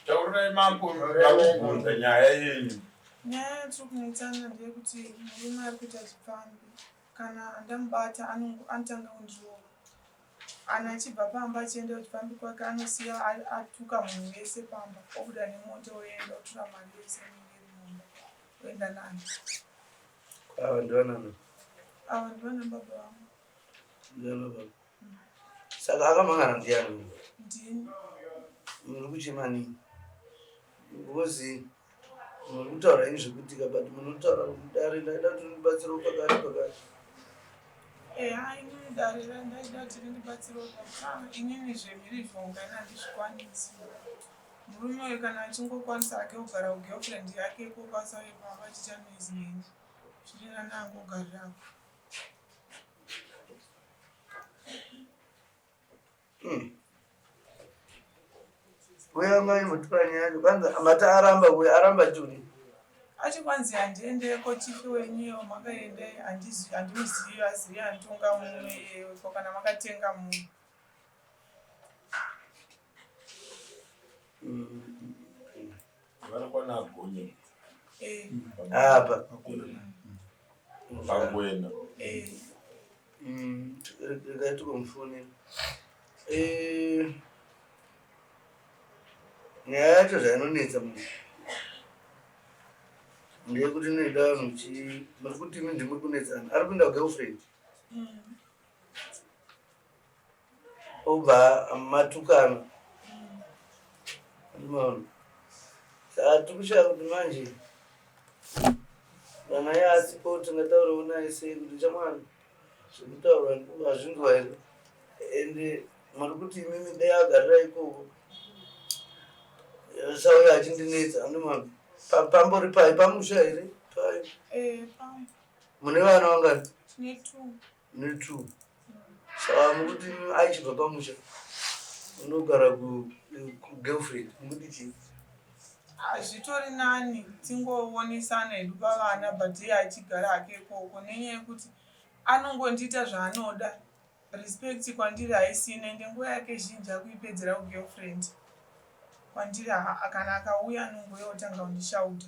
Taurai mambo vakubvunza nyaya yenyu. Nyaya yatiri kunoitana ndeyekuti murume ari kuita zvipfambi kana ndamubata anotanga kundirova. Anhu achibva pamba achienda kuti pambi kwake anosiya atuka munhu wese pamba obuda nemota oenda otura mari yese inenge iri mumba oenda nani ava ndivanani ava ndivana baba vangu ndivana baba mm. saka akamangana ndiyani ndini muri kuchema nini Ngozi muri kutaura ini zvekutika but munotaura mudare ndaida kuti ndibatsire pakati pakati. Eya ini mudare randaida kuti ndibatsire pakati inini zvemirivo ngani handizvikwanisi. Murume uyu kana achingokwanisa hake kugara kugirlfriend yake kokwanisa uye pamba achiita noise neni. Zvirira nangogarira. Hmm. Uya mai mutwani yacho kwanza mati aramba uya aramba juni. Achi kwanzi handiende ko chifi wenyu makaende handizi handimuzivi azivi antonga munhu iyeyo ko kana makatenga munhu. Mm. Vanokwana agonye. Eh. Apa. Pangwena. Eh. Mm, regai tikomufoni. Eh. Nyaya yacho zvainonetsa munhu ndeyekuti inoida vanhu chi muri kuti imi ndimuri kunetsana ari kuenda kugirlfriend mm. Obva matukana. Unoona. Saka tikushaya kuti manje kana iye asipo tingataurawo naye sei kuti chamwana zvekutaura hazvinzwa here and muri kuti imimi dai agarira ikoko sauya achindinetsa andimami pambori pai pamusha here pai eh, mune vana vangani Me too. Saka mukuti aichibva pamusha unogara kugirlfriend mukuti chii? Hazvitori nani tingoonesana hedu pavana but iye achigara hake ikoko nenyaya yekuti anongondiita zvaanoda respect kwandiri haisina ende nguva yake zhinji akuipedzera kugirlfriend kwandiri kana akauya anongoya otanga kundishauta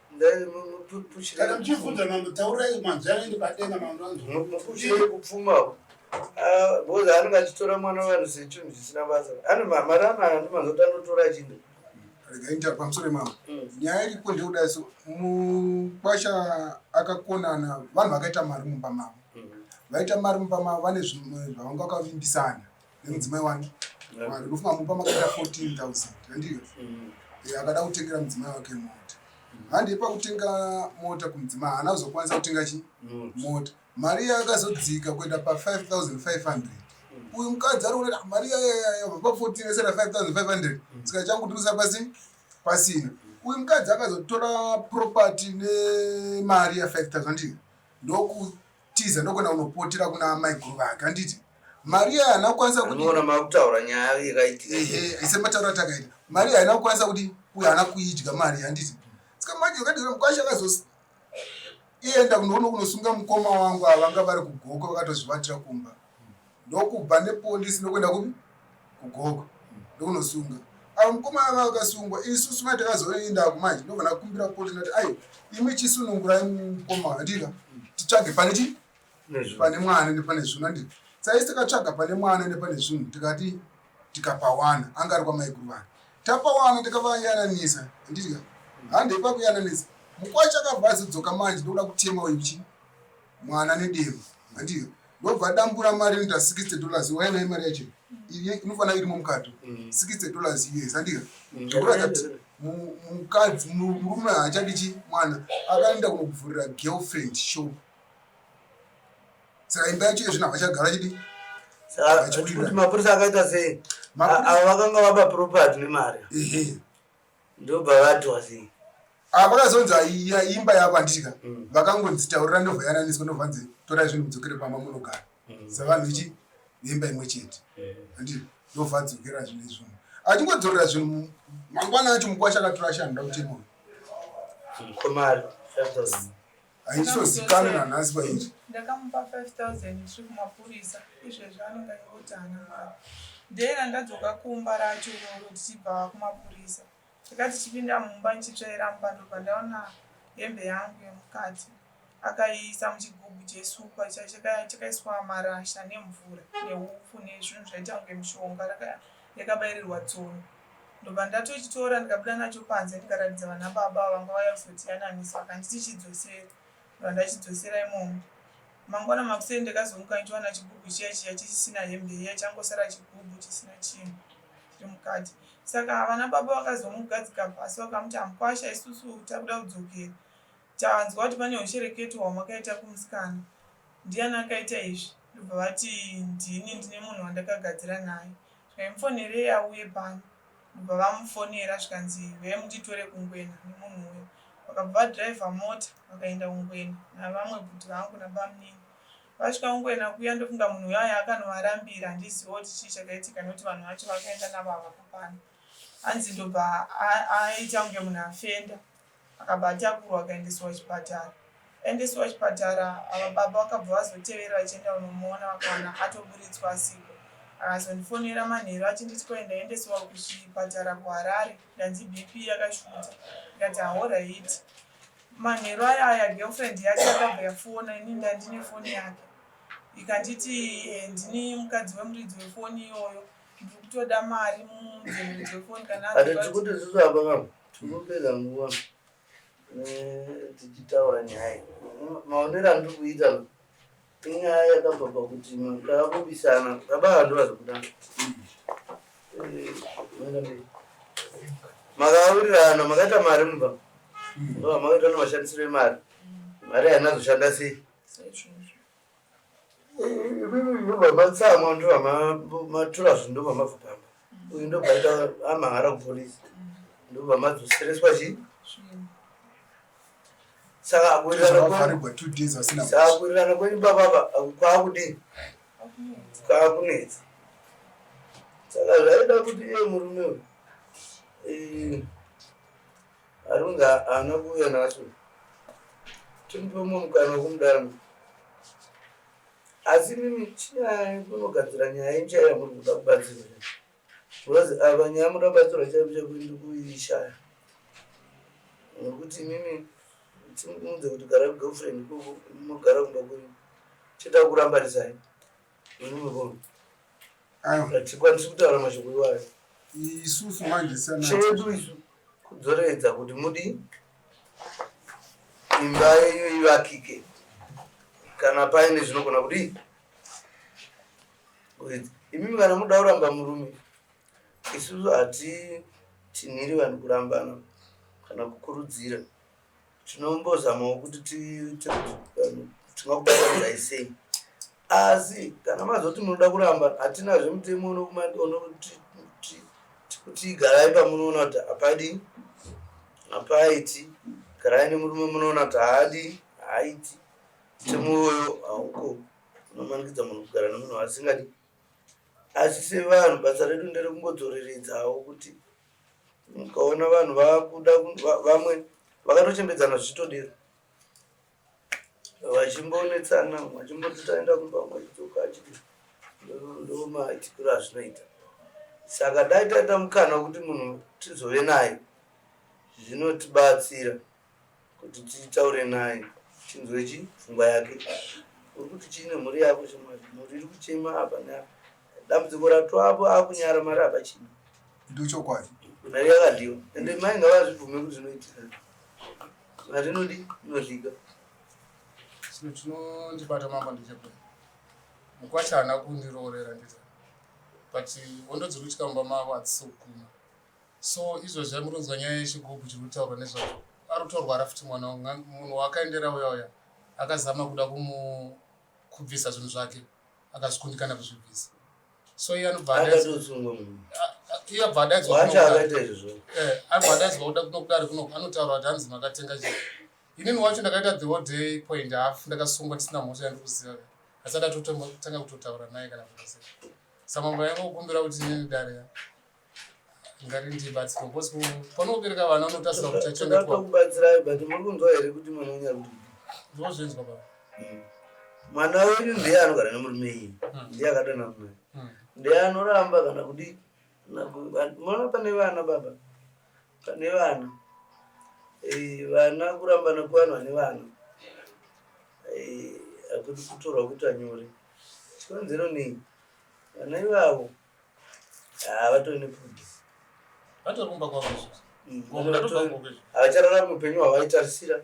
kana muchibvunza mambo taurai manzwi anoende padenga mambo anzwauchire kupfumawo bcoz ah, anenge achitora mwana wevanhu sechinhu chisina basa ane mari anayo ndimanzoti anotora chinhu regaita pamusoro imamo mm. nyaya iripo ndeuda so mukwasha akakonana vanhu vakaita mari mumba mavo mm. vaita mari mumba mavo vane zvimwe zvavanga vakavimbisana nemudzimai wake mari ndofunga amupa makaita 14000 handiyo mm. eh, akada kutengera mudzimai wake mota mm. handii pakutenga mota kumudzimai haana kuzokwanisa kutenga chi mota mari iya yakazodzika kuenda pa 5500 mm. uyu mukadzi ari kuona ah, mari iyayayabva pa 14 esera 5500 saka changutirisa pasi pasina uyu mukadzi akazotora property nemari ya 5000 ndiyo ndoku tiza ndokona unopotera kuna amai guru vake anditi maria haina kukwanisa kutiona makutaura nyaya yakaitika ise mataura takaita maria haina kukwanisa kuti uyo haana kuidya mari handiti saka manje ukadira mukwasha akazosi ienda kunoona kunosunga mukoma wangu avanga vari kugoko vakatozvivatira kumba ndokubva nepolisi ndokuenda kupi kugogo ndokunosunga avo mukomana vava vakasungwa isusu mai takazoenda kumanje ndobva ndakumbira polisi ndati aiwa imwe chisunungurai mukomana ndika titsvage pane chii pane mwana ende pane zvinhu andi saisi takatsvaga pane mwana ende pane zvinhu tikati tikapawana anga ari kwamaiguru vanhu tapawana tikavayananisa andidya handei pakuyananisa mukwacho akabva azodzoka manje ndokuda kutema uyu chii mwana nedemo handiyo ndobva adambura mari inoita 60 dollars waive imari yacho iye inofanira irimo mukato 60 mm. dollars us handiyo mm. ndokuratidza kuti mukadzi murume haachadichi mwana akaenda kunokuvhurira girlfriend shop saka imba yacho yezvino havachagara chidi mapurisa akaita sei avo vakanga vapa property nemari ndobva vatwa sei aa vakazonzi aiya imba yako handitika Mm. vakangonzi taurira ndobva yananiswa ndobva nzi torai zvinhu mudzokere pamba munogara Mm. savanhu vechi vemba imwe chete handi ndobva adzokera zvinhu izvona achingodzorera zvinhu mu- mangwana acho mukwasha akatora ashe anoda kuchemura mkomari haizozikanwa nhasi pairi ndakamupa 5000 tiri kumapurisa izvezvi anenge aingoti hana mari dei randadzoka kumba racho iroro tichibva kumapurisa tikati chipinda mumba ndichitsvairamba ndobva ndaona hembe yangu yemukati akaiisa muchigubhu chesupa chakaiswa marasha nemvura neupfu nezvinhu zvaita kunge mushonga yakabairirwa tsono Ndobva ndatochitora ndikabuda nacho panze ndikaratidza vana baba avo vanga vauya kuzotiyananisa vakanditi chidzosere ndobva ndachidzosera imomo. Mangwana makuseni ndakazomuka ndichiwana chigubhu chiya chiya chisisina hembe iya changosara chigubhu chisina chinhu chiri mukati. Saka vana baba vakazomugadzika pasi vakamuti hamukwasha isusu takuda kudzokera tanzwa kuti pane ushereketo hwamakaita kumusikana ndiyani akaita izvi ndobva vati ndini ndine munhu wandakagadzira naye Zvaimufonerei auye pano ndokubva vamufonera zvikanzi huyai munditore kuNgwena nemunhu uya. Vakabva vadriver mota vakaenda kuNgwena navamwe bhudhi vangu nabamunini. Vasvika kuNgwena kuya ndofunga munhu uya aya akanovarambira handizivewo kuti chii chakaitika nekuti vanhu vacho vakaenda navo havapo pano. Hanzi ndobva aita kunge munhu afenda. akabva atakurwa akaendeswa kuchipatara aendeswa kuchipatara ava baba vakabva vazotevera vachienda kunomuona vakaona atoburitswa asiko akazondifonera manheru achinditi kwai ndaendeswa kuchipatara kuharare ndanzi bp yakashuta ndikati ahorait manheru aya aya girlfriend yake yakabva yafona ini ndandine foni yake ikanditi eh, ndini mukadzi wemuridzi wefoni iyoyo ndiri kutoda mari mumuridzi wefoni kana Tinopedza nguva eh, tichitaura nyaya maonero andiri kuita inyaya yakabva pakuti ndakakubisana baba vandu vazokuda makawirirana makaita mari mumba makaita nemashandisiro emari mari hainazoshanda sei vabvatsamwa ndo vamatura zvinhu ndo vamabva pamba uyu ndo bvaita amahara kupolisi ndo vamadzosereswa chii saka akuwirirana kwenyu bababa kwaakudii kwaakunetsa saka zvaida kuti iye murume uyu Arunga haana kuuya nacho tinopa mumwe mukana wekumudana asi mimi chinai kunogadzira nyaya incha yamuri kuda kubatsirwa because ava nyaya muda kubatsirwa chaipo chaipo ndikuishaya nekuti mimi timuunze kuti gara girlfriend koko mogara kumba kuri cheta kurambarisai hatikwanisi kutaura mashoko iwayo isusu manje chedu isu kudzoreredza kuti mudi imba yenyu ivakike kana paine zvinogona kudii imi kana muda kuramba murume Isusu hatitinhiri vanhu kurambana kana kukurudzira. Tinombozamawo kuti tiite kuti vanhu tingakubatanidzai sei. Asi kana mazoti munoda kuramba, hatinazve mutemo unokuti kuti garai pamunoona kuti hapadii hapaiti garai nemurume munoona kuti haadii haaiti mutemo iwoyo hauko unomanikidza munhu kugara nemunhu waasingadi asi sevanhu basa redu nderekungodzoreredzawo kuti ukaona vanhu vakuda vamwe vakatochembedzana zvichitodero vachimbonetsana vachimboti taenda kumba mwaidzoka achiti ndomaitikiro azvinoita saka dai taita mukana wekuti munhu tizove naye zvinotibatsira kuti titaure naye tinzwe chi pfungwa yake uri kuti chii nemhuri yako chimwari mhuri iri kuchema apa neapa dambudziko ratwapo akunyara mari hapachina ndochokwadi mari yakadhiwa ende mai ngavazvibvume kuti zvinoitika mari inodi inodlika chino chinondibata mama ndechepe mukwasha haana kundiroorera ndita but hondo dziri kuitika mumba mavo hadzisokuma So izvozvi amuronzwa nyaya yechigubhu chiri kutaurwa nezvazvo ari kutorwara futi mwana wangu munhu waakaendera uya uya akazama kuda kubvisa zvinhu zvake akazvikundikana kuzvibvisa so iye anobva iye abva adaidzwa kuda kunokudari kuno anotaura kuti hanzi makatenga chi inini wacho ndakaita the whole day point half ndakasungwa ndisina mhosva yandi kuziva asi adatotanga kutotaura naye kana kuaa samambo yanga kukumbira kuti inini dare ngarindibatsira because panobereka vana unotasira kuti achachengetwa kubatsirai but muri kunzwa here kuti mwana wenyu ari kuti ndozvinzwa baba hmm. mwana wenyu ndiye anogara nemurume iyi hmm. ndiye akadana mna hmm. ndiye anoramba kana kudi mona pane vana baba pane vana eh, vana kurambana kuvanhu vane vana eh, akuti kutorwa kuti anyore chikonzero nei vana ivavo Ah, vatori nepudi vatori kumba kwavoavachararami mm, upenyu hwavaitarisira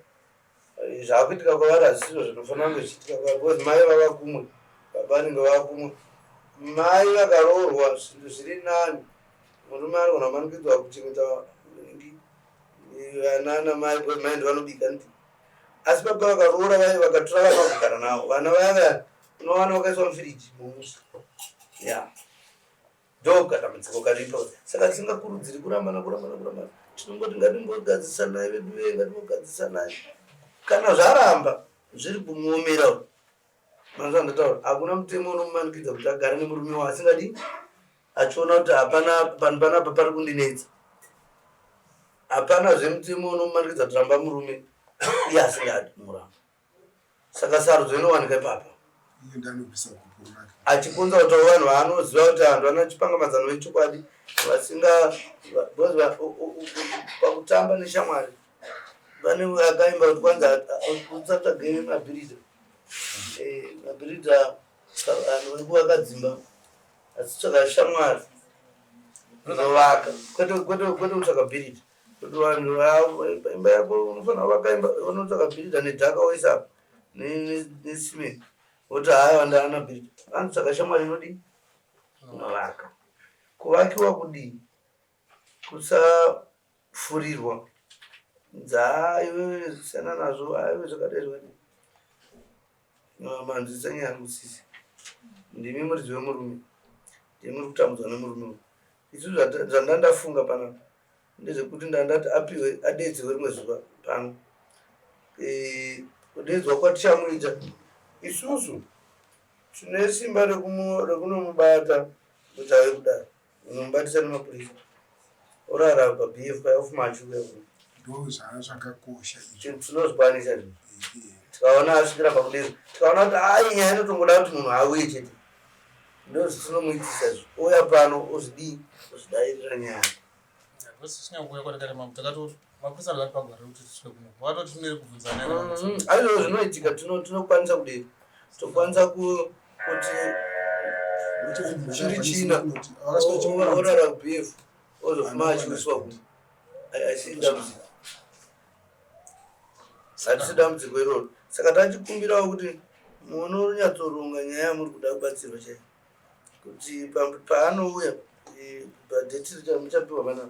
eh, zvaakuitika kwavari hazvisizvo zvinofanira kunge zvichiitika kwavari because mai vava kumwe baba vanenge vava kumwe mai vakaroorwa zvinhu zviri nani murume anogona kumanikidzwa kuchengeta eh, anana mai because mai ndivanobika ndi asi baba vakaroora vaive vakatora vana kugara navo vana vaya vaya unowana wakaiswa mufiriji mumusha ya ndo kadambudziko karipo saka tisingakurudziri kurambana kurambana kurambana tinongoti ngatimbogadzisanai vedu vee ngatimbogadzisanai kana zvaramba zviri kumuomera u manzva ndataura hakuna mutemo unomumanikidza kuti agare nemurume wa asingadi achiona kuti hapana panhu panapa pari kundinetsa hapana zvemutemo unomumanikidza kuti ramba murume iye asingadi muramba Saka sarudzo inowanika ipapa. Iye ndanobvisa gupo rake. Achikunza kuti vanhu vaanoziva kuti vanhu vana chipanga mazano vechokwadi vasinga because va- u- u- u- u- pakutamba neshamwari vane akaimba kuti kwanzi usatsvage mabhiridha Eh, mabhiridha ka- vanhu vari kuvakadzimba asi tsvaga shamwari kuzovaka kwete kwete kwete kutsvaga bhiridha Kuti vanhu vavo imba yako unofana kuvaka imba unotsvaka bhiridha nedhaka woisa apa nesimeni woti haya vandaana bhiridha vanzi saka shamwari inodii unovaka kuvakiwa kudii kusafurirwa dzaa iwe siyana nazvo aiwe zvakadai zvakadai manzwisisa nyaya yangu sisi ndimi muridzi wemurume ndimuri kutambudzwa nemurume uyu isu zvandandafunga panapa ndezvekuti ndandati apiwe adedzerwe rimwe zuva pano eh, kudedzwa kwatichamuita isusu tine simba rekunomubata kuti ave kudaro unomubatisa nemapurisa orara pabf paya ofuma achiuya kuno ndozvaa zvakakosha izvo tinozvikwanisa izvo Ehe. tikaona asvikira pakudero tikaona kuti haa iyi nyaya inotongoda kuti munhu auye chete ndozvitinomuitisa izvo ouya pano ozvidii ozvidairira nyaya Hakusi kusina kuuya kwatakare mambo takatofa. mapurisa vari pagore rekuti tisvike kuno vatoti tinenge kubvunzana mm, aizvo zvinoitika tinokwanisa kudei tokwanisa kuti chiri china orara bf ozofuma achiwiswa kuti aisii dambudziko hatisi dambudziko iroro saka tachikumbirawo kuti muone runyatsoronga nyaya yamuri kuda kubatsirwa chaiyo kuti paanouya eh, padheti richapiwa vanaa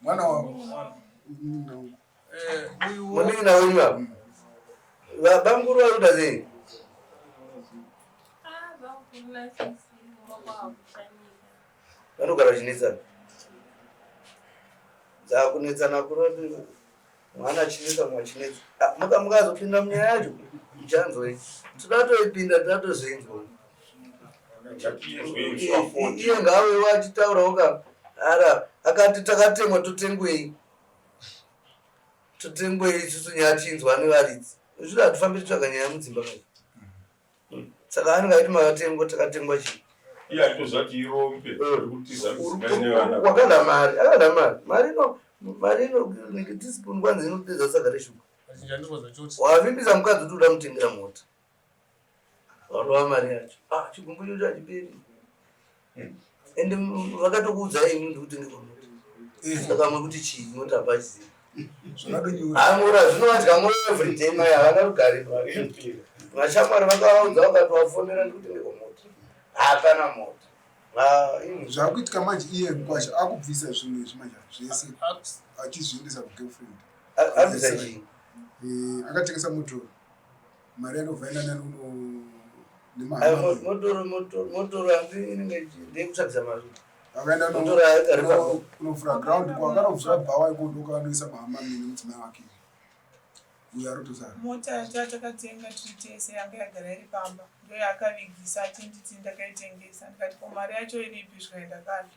mwana wangu munin'ina wenyu ava vabamukuru vari kuda sei vanogara vachinetsana dzakunetsana kuroti mwana achinetsa mumwe achinetsa ah, muka mukazopinda munyaya yacho muchanzwei toda toipinda toda tozoinzwa iye ngaawewo achitaurawo ka ara akati takatemwa totengwei totengwei isusu nyaya tiinzwa nevaridzi zvido hatifambi titsvaga nyaya mudzimba mai saka anenge aiti makatengwa takatengwa chii iye aitoziva kuti irombe wakada mari akada mari mari ino mari ino teaspoon kwanzi inopedza saka reshuga wavimbisa mukadzi kuti uda mutengera mota vanova mari yacho ah, chigumbu chocho achiperi and vakatokuudzai ini ndikuti ndikomuti eh. saka mekuti chii motabazi amura zvinovanzi kamwe everyday mai havana rugare vashamwari vakavaudza vakatovafonera ndikuti ndikomuti hapana moto zvakuitika manje iye mkwasha akubvisa zvinhu izvi manje zvese achizviendesa kugirlfriend abvisa chii eh, akatengesa motoro mari yanovhaina nani unomotoro hanzi inenge ndekutsvagisa mari unovhura ground kwakanovhura bhawa ikondo ukavanoisa mahama mine mudzimai wake uyo arotozara mota yatakatenga tiri tese yanga yagara iri pamba ndoyaakavigisa achinditi ndakaitengesa ndikati ko mari yacho iripi zvikaenda kazvo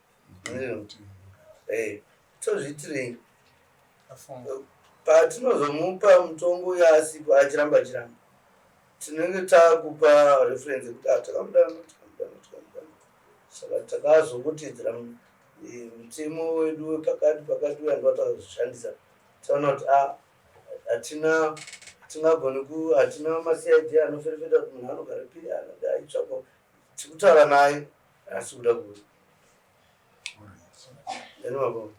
eh, tozviitirei patinozomupa mutongo uyo asipo achiramba achiramba tinenge takupa reference yekuti ah, takamudana takamudana takamudana saka takazongotedzera eh, mutemo wedu wepakati pakati uya ndiwatakazoshandisa taona kuti ah, hatina tingagoni ku hatina masid anoferefeta kuti munhu anogara piri anoda aitsvako tikutaura naye asi kuda kuti anovavao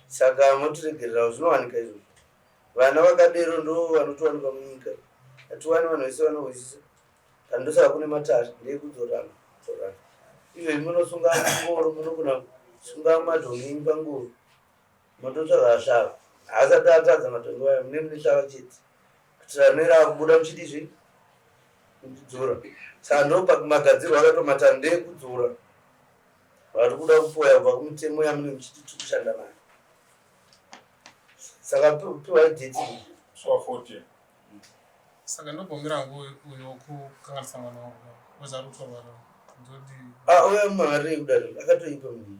saka motiregererawo zvinowanika izvozvo vana vakadero ndo vanotowanika munyika hatiwani vanhu vese vanohwisisa kana ndosaka kune matare ndeyekudzorana dzorana izvezvi munosunga ngoro munogona kusunga madhongenyi pangoro Matotsvaga ashava haasati atadza matongo wayo mune mune shava chete kutira rinenge akubuda muchidi zvi kudzura saka ndopa magadzirwo akatomata ndekudzura vari kuda kupoya kubva kumitemo yamune muchiti tiri kushanda nayo saka piwai deti swa fourteen saka ndobhomera hangu uyo wokukanganisa mwana wangu wezari kutorwara ndodi ah, uyo mwana rei kudaro akatoipa mnii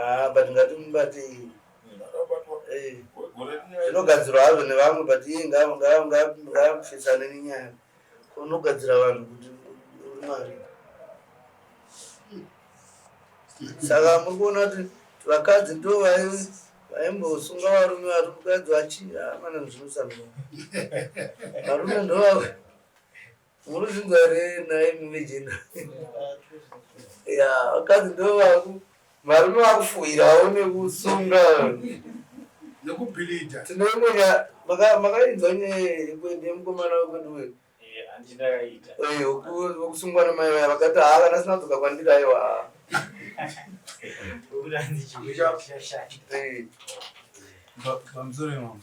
Ah, but ngatimubate zvinogadzirwa eh, hazvo nevamwe but iye ngaapfesane nenyaya unogadzira vanhu kuti mari saka muri kuona kuti vakadzi ndo vaimbosunga varume vari mukadzi vachii amana ah, zvinosanoa varume ndovavo Munozvinzwa here nhai mumijina? Ya, vakadzi ndovaku varume vakufuhirawo nekusunga nekubhilidha. Tinoimbonya makainzwa nyaya yemukomana wekwedu wedu vokusungwa namai vaya vakati haa kana sina dzoka kwandiri aiwa pamusoro imamo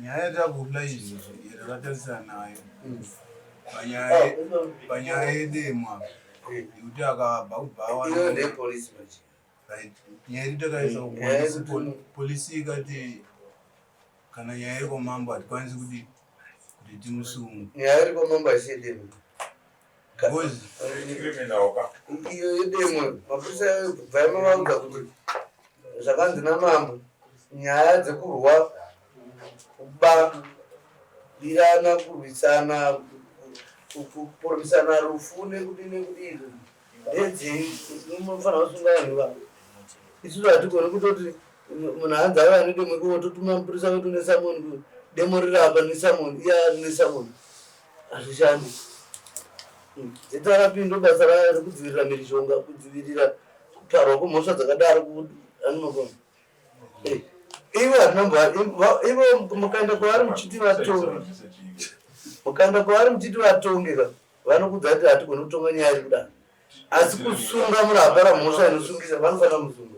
nyaya yatakurla izvi yatakatarisa nayo panyaya yedemwa yekuti akabva kubva nyaya iri takaisa polisi ikati kana nyaya iri kwamambo hatikwanisi kuti kuti timusunge nyaya iri kwamambo haisiyedemwa iyo yedemo mapurisa kubva yamavaudza kuti zvakanzi namambo nyaya dzekurwa kuba birana kurwisana kuporisana rufu nekuti nekuti izvo ndedzei munofanira kusunga vanhu vavo isusu hatigoni kutoti munhu hanzi ave anedemo ikoko totuma mapurisa vetu nesamoni demo riri apa nesamoni iya nesamoni Hazvishandi. Dzitarapi ndobasa rayo rekudzivirira mhirizhonga, kudzivirira kuparwa kwemhosva dzakadaro kuanimagona. Eh, ivo hatina mbo ivo mukaenda kwavari muchiti vatonge mukaenda kwavari muchiti vatonge ka vanokudza kuti hatigoni kutonga nyaya iri kudaro asi kusunga munhu apara mhosva inosungisa vanofanira musungo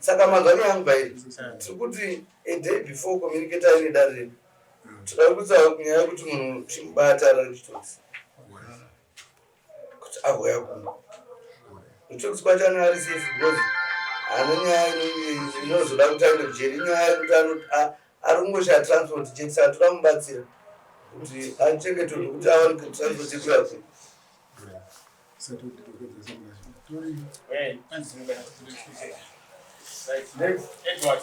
saka mazano yangu bairi tiri kuti a day before communicate aine dare redu todakutsa nyaya yekuti munhu chimubata raritosi kuti agouya kuno kuti kubatana ari safe because haana nyaya inozoda kuti aende kujeri inyaya yekuti ari kungoshaa transport chete saka toda mubatsira kuti achengetwe nekuti awanike transport yekuyakwe Right. Next, Edward.